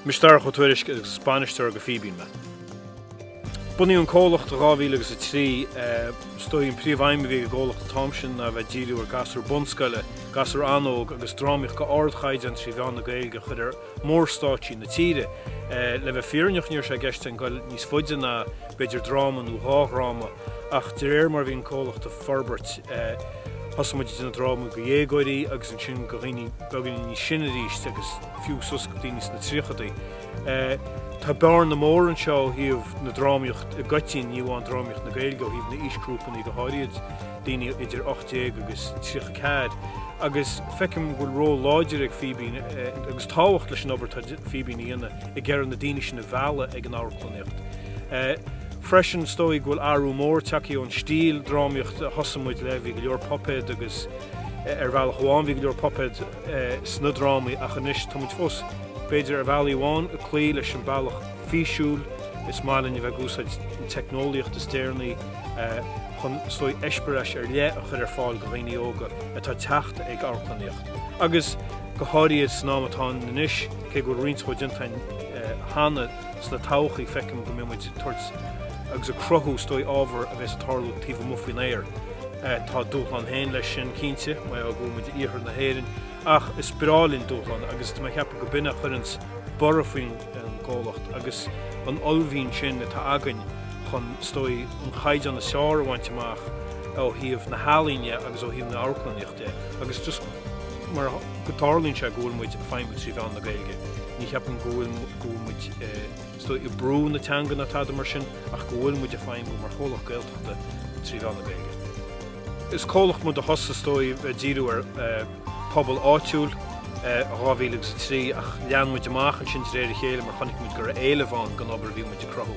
Mise Darach Ó Tuairisg, is bainisteoir go Fíbín mé. Bunaíodh an comhlacht i 2003. Is dóigh an príomhaidhm a bhí ag an gcomhlacht an t-am sin ná a bheith ag díriú ar gasúir bunscoile, gasúir an-óg agus drámaíocht go h-ardchaighdeán trí mheán na Gaeilge a chur ar mhór-stáitsí na tíre. Le bheith fírinneach ní raibh sé i gceist againn dul níos faide ná b'fhéidir dráma nó dhá dhráma ach de réir mar a bhí an comhlacht ag forbairt thosaigh muid ag déanamh drámaí go dhéagóirí agus ansin go dhaoine beagáinín níos sine arís agus fiú suas go dtí ins na tríochadaí. Tá bearna mór anseo ó thaobh na drámaíocht i gcoitinn, ní amháin drámaíocht na Gaeilge, ó thaobh na aoisgrúpannaí go háirid, daoine idir ocht déag agus tríocha ceathair. Agus feicim go bhfuil ról láidir ag Fíbín, agus tábhacht leis an obair atá Fíbín a dhéanamh, ag iarraidh na daoine sin a mhealladh ag an amharclannaíocht. Freisin, is dóigh go bhfuil athrú mór tagthaí ón stíl drámaíocht a thosaigh muid le, bhí go leor puipéad agus ar bhealach amháin bhí go leor puipéad, sna drámaí ach anois tá muid fós, b'fhéidir, ar bhealaí amháin, ag cloí leis an bhealach físiúil, is maith linn a bheith ag úsáid an teicneolaíocht is déaranaí chun is dóigh eispéireas ar leith a chur ar fáil do dhaoine óga atá ag teacht ag amharclannaíocht agus go háirid san am atá ann anois, cé go bhfuil roinnt dhó déanta againn cheana. Sna todhchaí, feicim go mbeidh muid ag tabhairt agus ag cruthú, is dóigh, ábhar a bheas ag tarlú taobh amuigh faoin aer. Tá a dúshlán féin leis sin, cinnte, mar gheall go bhfuil muid in iarthar na hÉireann, ach is breá linn dúshláin agus tá mé ag ceapadh gurb in a chuireanns borradh faoin gcomhlacht agus an ollmhian sin atá againn chun, is dóigh, an caighdeán is fearr a bhaint amach ó thaobh na healaíne agus ó thaobh na amharclannaíocht de agus just mar go dtarlaíonn sé go bhfuil muid ag feidhmiú trí mheán na Gaeilge, ní cheapaim go bhfuil. go bhfuil muid is dóigh ag brú na teanga, ná tada mar sin, ach go bhfuil muid ag feidhmiú mar chomhlacht Gaeltachta trí mheán na Gaeilge. Is comhlacht muid a thosaigh, is dóigh, ag díriú ar phobal áitiúil i 2003 ach lean muid amach ansin de réir a chéile mar chonaic muid go raibh éileamh ann don obair a bhí muid ag cruthú.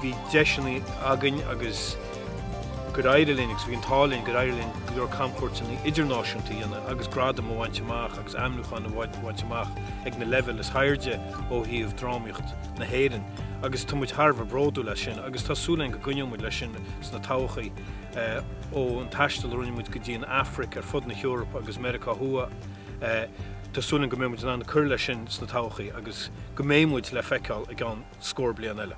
Bhí deiseannaí againn agus gur éirigh linn agus bhí an t-ádh linn gur éirigh linn go leor camchuairteanna idirnáisiúnta a dhéanamh agus gradaim a bhaint amach. agus ainmniúcháin a bhaint amach ag na leibhéil is hairde ó thaobh drámaíocht na hÉireann agus tá muid thar a bheith bródúil as sin agus tá súil againn go gcoinneoidh muid leis sin sna todhchaí. Ón taisteal a rinne muid go dtí an Afraic, ar fud na hEorpa agus Meiriceá Thuaidh, tá súil againn go mbeidh muid in ann cur leis sin sna todhchaí agus go mbeidh muid le feiceáil i gceann scór bliain eile.